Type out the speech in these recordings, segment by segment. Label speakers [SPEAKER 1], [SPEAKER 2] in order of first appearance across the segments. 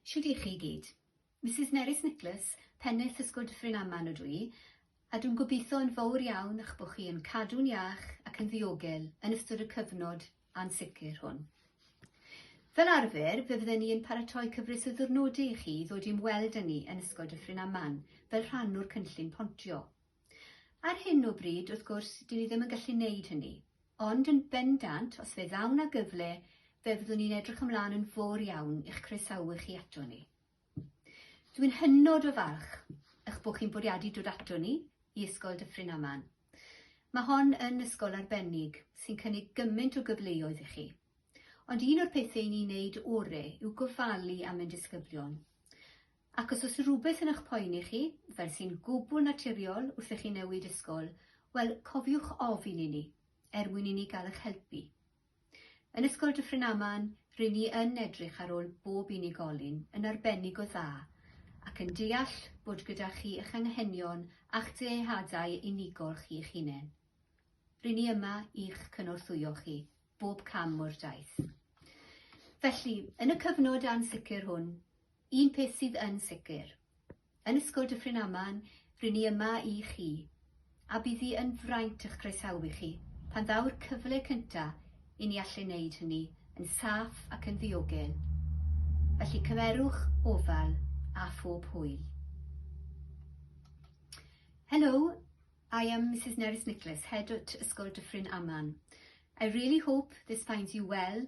[SPEAKER 1] Shwd i chi i gyd? Mrs Nerys Nicholas, pennaeth ysgwyd Ffrin Aman ydw i, a dwi'n gobeithio yn fawr iawn eich bod chi yn cadw'n iach ac yn ddiogel yn ystod y cyfnod ansicr hwn. Fel arfer, fe fydden ni yn paratoi cyfres o ddiwrnodau i chi ddod i'm weld â ni yn Ysgol Dyffryn Aman fel rhan o'r cynllun pontio. Ar hyn o bryd, wrth gwrs, dyn ni ddim yn gallu wneud hynny, ond yn bendant, os fe ddaw na gyfle, fe fyddwn ni'n edrych ymlaen yn fawr iawn i'ch croesawu chi ato ni. Dwi'n hynod o falch eich bod chi'n bwriadu dod ato ni i Ysgol Dyffryn Aman. Mae hon yn ysgol arbennig sy'n cynnig gymaint o gyfleoedd i chi. Ond un o'r pethau ni'n neud ore yw gofalu am ein disgyblion. Ac os oes rhywbeth yn eich poeni chi, fel sy'n gwbl naturiol wrth i chi newid ysgol, wel, cofiwch ofyn i ni, er mwyn i ni gael eich helpu. Yn Ysgol Dyffryn Aman, ry'n ni yn edrych ar ôl bob unigolyn yn arbennig o dda, ac yn deall bod gyda chi eich anghenion a'ch dyheadau unigol chi'ch hunain. Ry'n ni yma i'ch cynorthwyo chi, bob cam o'r daith. Felly, yn y cyfnod ansicr hwn, Un peth sydd yn sicr. Yn Ysgol Dyffryn Aman, ry'n ni yma i chi, a bydd hi yn fraint eich croesawu chi pan ddaw'r cyfle cynta' i ni allu neud hynny yn saff ac yn ddiogel. Felly cymerwch ofal â phob hwyl. Hello, I am Mrs Nerys Nicholas, Head at Ysgol Dyffryn Aman. I really hope this finds you well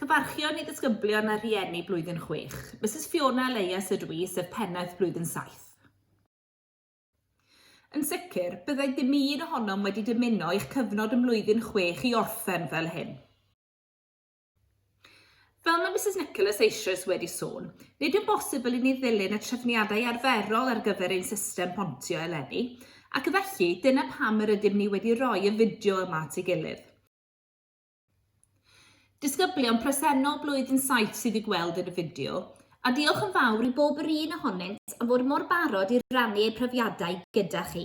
[SPEAKER 2] Cyfarchion i ddisgyblion a rhieni blwyddyn chwech. Misus Fiona Elias ydw i, sef pennaeth blwyddyn saith. Yn sicr, byddai dim un ohonom wedi dymuno eich cyfnod ym mlwyddyn chwech i orffen fel hyn. Fel mae Misus Nicholas eisoes wedi sôn, nid yw'n bosibl i ni ddilyn y trefniadau arferol ar gyfer ein system pontio eleni, ac felly dyna pam yr ydym ni wedi rhoi y fideo yma at ei gilydd. Disgyblion presennol Blwyddyn Saith sydd i'w gweld yn y fideo, a diolch yn fawr i bob yr un ohonynt am fod mor barod i rannu eu profiadau gyda chi.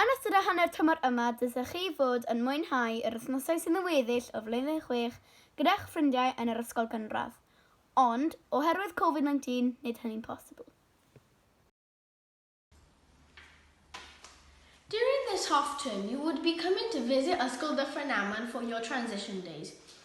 [SPEAKER 3] Yn ystod y hanner tymor yma dylsech chi fod yn mwynhau yr wythnosau sydd yn weddill o flwyddyn chwech gyda'ch ffrindiau yn yr ysgol gynradd, ond, oherwydd Covid 19, nid hynny'n posibl.
[SPEAKER 4] During this half term you would be coming to visit Ysgol Dyffryn Aman for your transition days.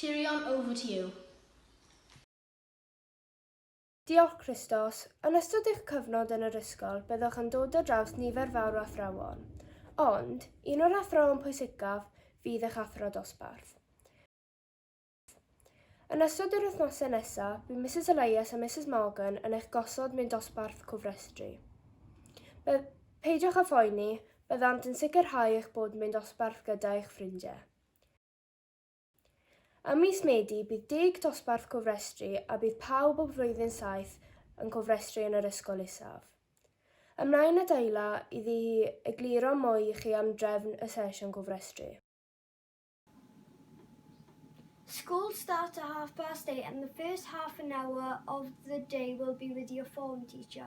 [SPEAKER 5] Tyrion over to you. Diolch Christos. Yn ystod eich cyfnod yn yr ysgol byddwch yn dod ar draws nifer fawr o athrawon. Ond, un o'r athrawon pwysicaf fydd eich athro dosbarth. Yn ystod yr wythnosau nesaf, bydd Misus Elias a Misus Morgan yn eich gosod mewn dosbarth cofrestru. Be, peidiwch â phoeni, byddant yn sicrhau eich bod mewn dosbarth gyda eich ffrindiau. Ym mis Medi bydd deg dosbarth cofrestru a bydd pawb o flwyddyn saith yn cofrestru yn yr ysgol isaf. Ymlaen a Dayla iddi hi egluro mwy i chi am drefn y sesiwn cofrestru.
[SPEAKER 6] School start at half past eight and the first half an hour of the day will be with your form teacher.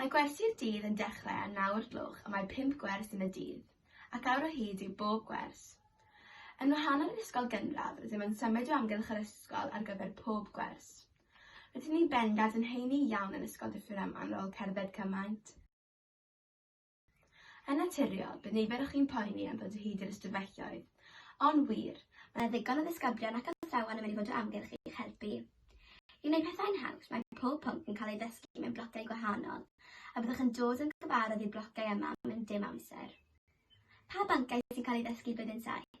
[SPEAKER 7] Mae gwersi'r dydd yn dechrau â naw o'r gloch a mae pump gwers yn y dydd, ac awr o hyd yw bob gwers. Yn wahanol i'r ysgol gynradd, rydym yn symud o amgylch yr ysgol ar gyfer pob gwers. Rydyn ni bendant yn heini iawn yn Ysgol Dyffryn Aman ar ôl cerdded cymaint. Yn naturiol, bydd nifer o chi'n poeni am ddod o hyd i'r ystafelloedd. Ond wir, mae 'na ddigon o ddisgyblion ac athrawon yn mynd i fod o amgylch i'ch helpu. I wneud pethau'n haws, mae pob pwnc yn cael ei ddysgu mewn blociau gwahanol, a byddwch yn dod yn gyfarwydd i'r blociau yma mewn dim amser. Pa bynciau sy'n cael eu ddysgu Blwyddyn Saith?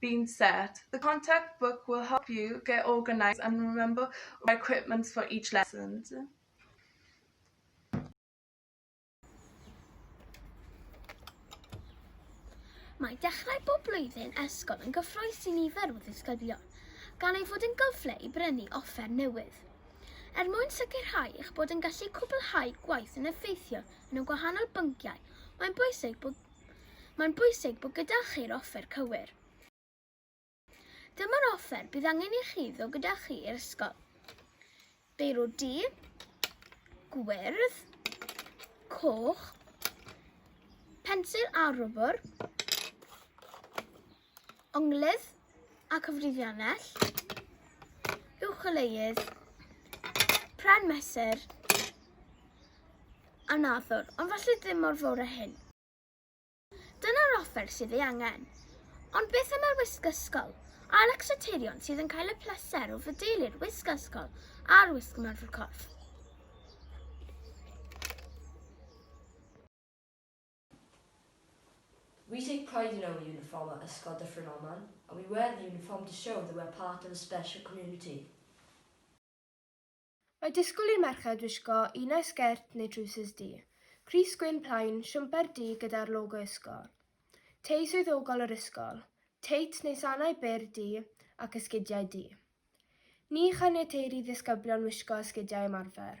[SPEAKER 8] being set. The contact book will help you get organised and remember your equipment for each lesson.
[SPEAKER 3] Mae dechrau bob blwyddyn ysgol yn gyffroes i nifer o ddisgyblion, gan ei fod yn gyfle i brynu offer newydd. Er mwyn sicrhau eich bod yn gallu cwblhau gwaith yn effeithiol yn y gwahanol bynciau, mae'n bwysig bod Mae'n bwysig bod gyda chi'r offer cywir. Dyma'r offer bydd angen i chi ddod gyda chi i'r ysgol. Beiro du, gwyrdd, coch, pensil a rwbr, Onglydd a cyfrifiannell, uwcholeuedd, pren mesur, a nadwr, ond falle ddim mor fawr a hyn. Dyna'r offer sydd ei angen. Ond beth am yr wisg ysgol? A lecsoterion sydd yn cael y pleser o fydeilu'r wisg ysgol a'r wisg ymarfer corff?
[SPEAKER 9] We take pride in our uniform at Ysgol Dyffryn Aman and we wear the uniform to show that we are part of a special community.
[SPEAKER 5] Mae disgwyl i merched wisgo un ai sgert neu drwsus du, crys gwyn plaen, siwmper du gyda'r logo ysgol, tei swyddogol yr ysgol, teit neu sanau byr du ac esgidiau du. Ni chaniateir i ddisgyblion wisgo esgidiau ymarfer.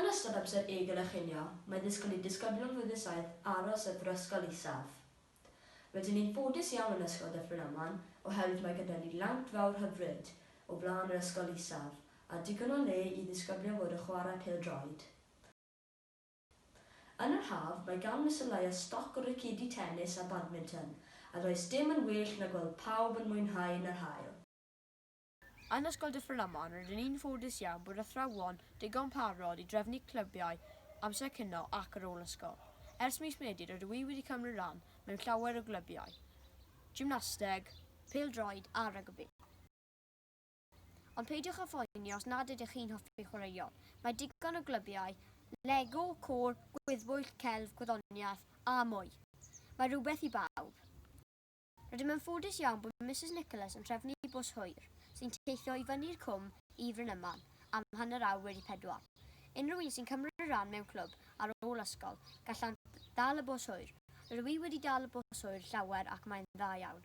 [SPEAKER 9] Yn ystod amser ei gynnyrchinio, mae disgwyl i disgyblion Flwyddyn Saith aros y Brifysgol Isaf. Rydyn ni'n ffodus iawn yn Ysgol Dyffryn Aman oherwydd mae gyda ni lawnt fawr hyfryd o flaen yr Ysgol Isaf a digon o le i ddisgyblion fod yn chwarae pêl-droed. Yn yr haf, mae gan Mister Laya stoc o racedi tenis a badminton a does dim yn well na gweld pawb yn mwynhau yn yr haul.
[SPEAKER 10] Yn Ysgol Dyffryn Aman rydyn ni'n ffodus iawn bod athrawon digon parod i drefnu clybiau amser cino ac ar ôl ysgol. Ers mis Medi rydw i wedi cymryd rhan mewn llawer o glybiau, gymnasteg, pêl-droed a rygbi. Ond peidiwch â phoeni os nad ydych chi'n hoffi chwaraeon, mae digon o glybiau, Lego, côr, gwyddbwyll, celf, gwyddoniaeth a mwy. Mae rhywbeth i bawb. Rydym yn ffodus iawn bod Misus Nicholas yn trefnu bws hwyr sy'n teithio i fyny'r cwm i Frynyman am hanner awr wedi pedwar. Unrhyw un sy'n cymryd rhan mewn clwb ar ôl ysgol, gallant ddal y bws hwyr. Rydw i wedi dal y bws hwyr llawer ac mae'n dda iawn.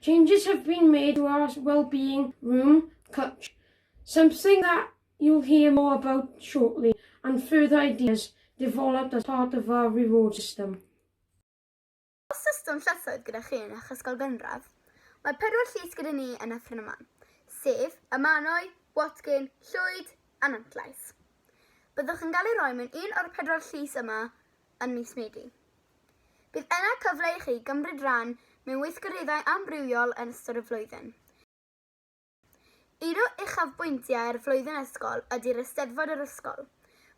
[SPEAKER 11] Changes have been made to our wellbeing room clutch, something that you'll hear more about shortly, and further ideas developed as part of our reward system.
[SPEAKER 3] Os system llysoedd gyda chi yn eich ysgol gynradd, mae pedwar llys gyda ni yn Nyffryn y Man, sef y Mannau, Watkin, Llwyd a Nantllais. Byddwch yn cael ei roi mewn un o'r pedwar llys yma yn mis Medi. Bydd yna cyfle i chi gymryd rhan mewn weithgareddau amrywiol yn ystod y flwyddyn. Un o uchafbwyntiau'r flwyddyn ysgol ydy'r Eisteddfod yr Ysgol,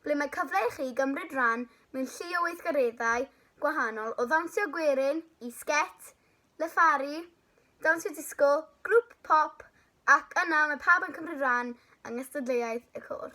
[SPEAKER 3] ble mae cyfle i chi gymryd rhan mewn llu o weithgareddau gwahanol o ddawnsio gwerin i sgét, llyfaru, dawnsio disgo, grŵp pop ac yna mae pawb yn cymryd rhan yng nghystadleuaeth y côr.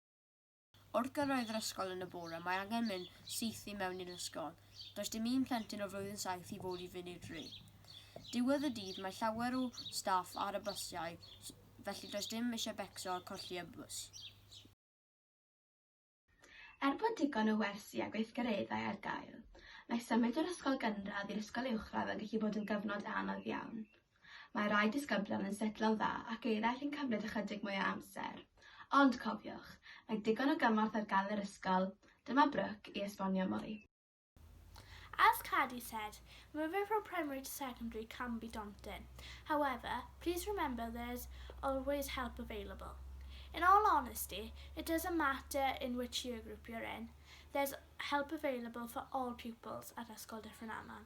[SPEAKER 10] Wrth gyrraedd yr ysgol yn y bore, mae angen mynd syth i mewn i'r ysgol. Does dim un plentyn o flwyddyn saith i fod i fynd i'r dre. Diwedd y dydd, mae llawer o staff ar y bysiau, felly does dim eisiau becso a colli y bws.
[SPEAKER 7] Er bod digon o wersi a gweithgareddau ar gael, mae symud o'r ysgol gynradd i'r ysgol uwchradd yn gallu bod yn gyfnod anodd iawn. Mae rhai disgyblion yn setlo'n dda ac eraill yn cymryd ychydig mwy o amser. Ond, cofiwch, mae digon o gymorth ar gael yn yr ysgol. Dyma Brooke i esbonio mwy.
[SPEAKER 12] As Cadi said, moving from primary to secondary can be daunting. However, please remember there is always help available. In all honesty, it doesn't matter in which year group you're in, there's help available for all pupils at Ysgol Dyffryn Aman.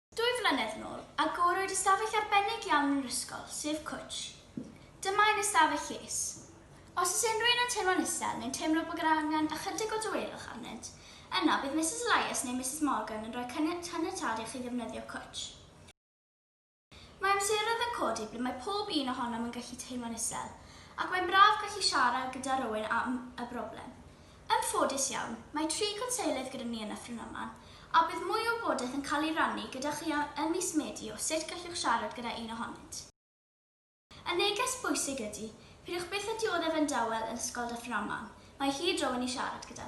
[SPEAKER 13] Dwy flynedd yn ôl, agorwyd ystafell arbennig iawn yn yr ysgol, sef Cwtsh. Dyma ein ystafell lles. Os oes unrhyw un yn teimlo'n isel neu'n teimlo bod yr angen ychydig o dawelwch arnynt, yna bydd Misus Elias neu Misus Morgan yn rhoi caniatâd i chi ddefnyddio Cwtsh. Mae amseroedd yn codi ble mae pob un ohonom yn gallu teimlo'n isel, ac mae'n braf gallu siarad gyda rywun am y broblem. Yn ffodus iawn, mae tri gwnselydd gyda ni yn y Ffrwnoman, a bydd mwy o wybodaeth yn cael ei rannu gyda chi ym mis Medi o sut gallwch siarad gyda un ohonynt. Y neges bwysig ydy, peidiwch byth â dioddef yn dawel yn Ysgol Dyffryn Aman, mae hi draw i ni siarad gyda.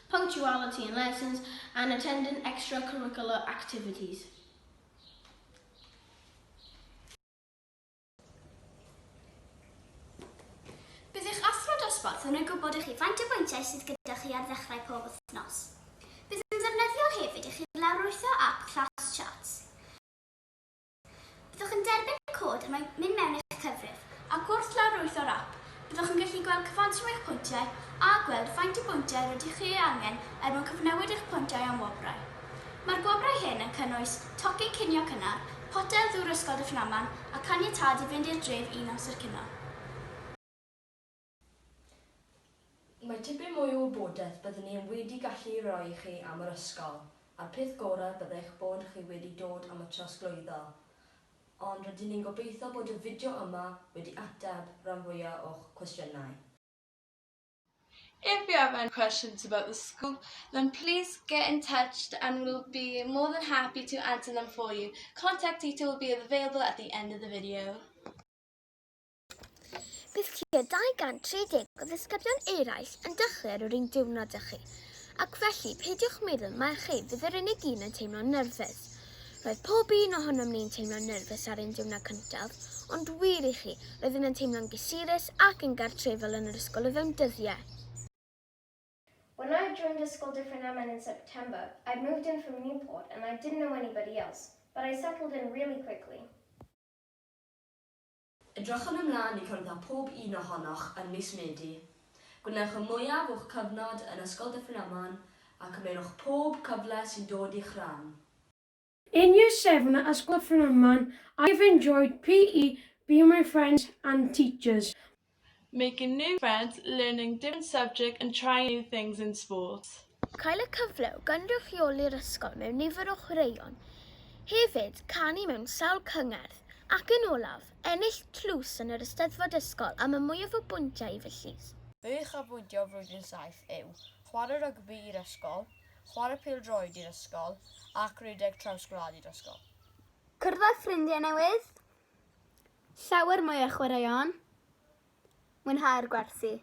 [SPEAKER 4] punctuality in lessons and attending extracurricular activities.
[SPEAKER 13] Bydd eich athro dosbarth yn rhoi gwybod i chi faint o bwyntiau sydd gyda chi ar ddechrau pob wythnos. Bydd yn ddefnyddiol hefyd i chi lawrlwytho ap Class Charts. Byddwch yn derbyn cod er mwyn mynd mewn i'ch cyfrif, ac wrth lawrlwytho'r ap, byddwch yn gallu gweld cyfanswm eich pwyntiau a gweld faint o bwyntiau rydych chi ei angen er mwyn cyfnewid eich pwyntiau am wobrau. Mae'r gwobrau hyn yn cynnwys tocyn cinio cynnar, potel ddŵr Ysgol Dyffryn Aman a chaniatâd i fynd i'r dref un amser cinio.
[SPEAKER 9] Mae tipyn mwy o wybodaeth byddwn ni wedi gallu ei roi i chi am yr ysgol, a'r peth gorau bydde eich bod chi wedi dod am y trosglwyddo. Ond rydyn ni'n gobeithio bod y fideo yma wedi ateb ran fwya o'ch cwestiynau.
[SPEAKER 8] If you have any questions about the school, then please get in touch and we'll be more than happy to answer them for you. Contact detail will be available at the end of the video.
[SPEAKER 3] Bydd tua 230 o ddisgyblion eraill yn dechrau ar yr un diwrnod â chi, ac felly peidiwch meddwl mai chi fydd yr unig un yn teimlo'n nerfus. Roedd pob un ohonom ni'n teimlo'n nerfus ar ein diwrnod cyntaf, ond wir i chi, roeddwn yn teimlo'n gysurus ac yn gartrefol yn yr ysgol o fewn dyddiau. When
[SPEAKER 14] I joined a school different am and in September, I'd moved in from Newport and I didn't know anybody else, but I settled in really quickly.
[SPEAKER 9] Edrychwn ymlaen i cwrdd â phob un ohonoch yn mis Medi. Gwnewch y mwyaf o'ch cyfnod yn Ysgol Dyffryn Aman a cymerwch pob cyfle sy'n dod i'ch ran. In
[SPEAKER 11] year seven at Ysgol Dyffryn Aman I have enjoyed PE being my friends and teachers. Making
[SPEAKER 8] new friends, learning different subject and trying new things in sports. Cael y cyfle
[SPEAKER 3] o gynrychioli'r ysgol mewn nifer o chwaraeon, hefyd canu mewn sawl cyngerdd, ac yn olaf, ennill tlws yn yr Eisteddfod Ysgol am y mwyaf o bwyntiau i fy llys. Fy uchafbwyntiau
[SPEAKER 10] o flwyddyn saith yw, chwarae rygbi i'r ysgol, chwarae pêl-droed i'r ysgol, ac rhedeg traws gwlad i'r ysgol. Cyrraedd
[SPEAKER 3] ffrindiau newydd, Llawer mwy o chwaraeon. Mwynhau'r gwersi.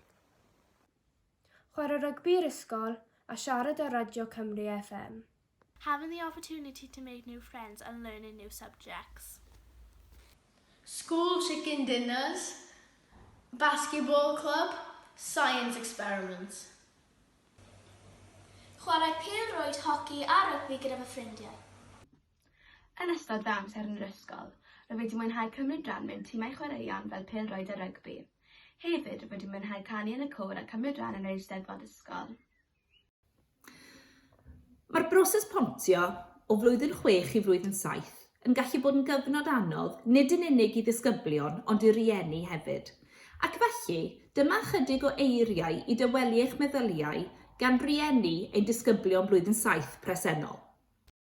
[SPEAKER 5] Chwarae rygbi i'r ysgol a siarad ar Radio Cymru FM. Having the
[SPEAKER 12] opportunity to make new friends and learn in new subjects.
[SPEAKER 4] School chicken dinners, basketball club, science experiments.
[SPEAKER 13] Chwarae pêl-rwyd, hoci a rygbi gyda fy ffrindiau.
[SPEAKER 7] Yn ystod fy amser yn yr ysgol, rwyf wedi mwynhau cymryd rhan mewn timau chwaraeon fel pêl-droed a rygbi. Hefyd, rwyf wedi mwynhau canu yn y côr a cymryd rhan yn yr Eisteddfod Ysgol.
[SPEAKER 2] Mae'r broses pontio o flwyddyn chwech i flwyddyn saith yn gallu bod yn gyfnod anodd nid yn unig i ddisgyblion ond i rieni hefyd. Ac felly, dyma ychydig o eiriau i dawelu eich meddyliau gan rieni ein disgyblion blwyddyn saith presennol.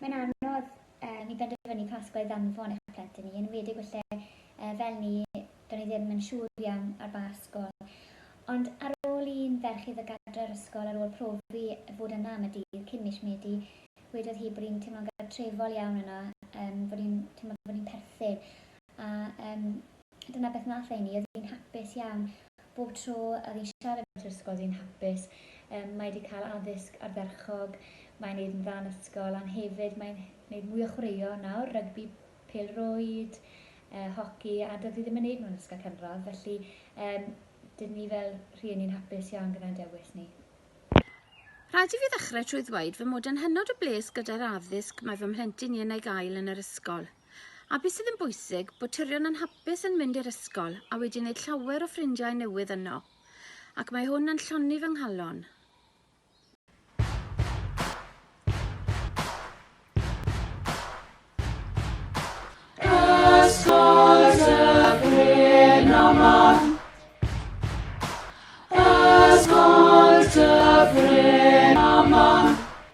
[SPEAKER 15] Mae'n anodd uh, ni benderfynu pa ysgol i ddanfon eich plentyn i, yn wedig felly uh, fel ni, do'n i ddim yn siŵr iawn ar ba ysgol. Ond ar ôl i'n ferch iddo gadra'r ysgol ar ôl profi fod yna am y dydd cyn mis Medi, wedodd hi bod hi'n teimlo'n gartrefol iawn yna, um, bod hi'n teimlo bod hi'n perthyn. A yym, dyna beth wnaeth Amy, oedd hi'n hapus iawn. Bob tro oedd hi'n siarad yn yr ysgol oedd hi'n hapus. Yym, mae wedi cael addysg ardderchog, mae'n wneud yn dda yn ysgol, a'n hefyd mae'n wneud mwy o chwaraeon nawr, rygbi, pêl-rwyd, uh, hoci, a doedd hi ddim yn wneud nhw'n ysgol cynradd, felly um, dyn ni fel rhieni'n hapus iawn gyda'n dewis ni.
[SPEAKER 16] Rhaid i fi ddechrau trwy ddweud fy mod yn hynod o bles gyda'r addysg mae fy mhlentyn i yn ei gael yn yr ysgol. A be sydd yn bwysig, bod tyrion yn hapus yn mynd i'r ysgol a wedi wneud llawer o ffrindiau newydd yno. Ac mae hwn yn llonnu fy nghalon.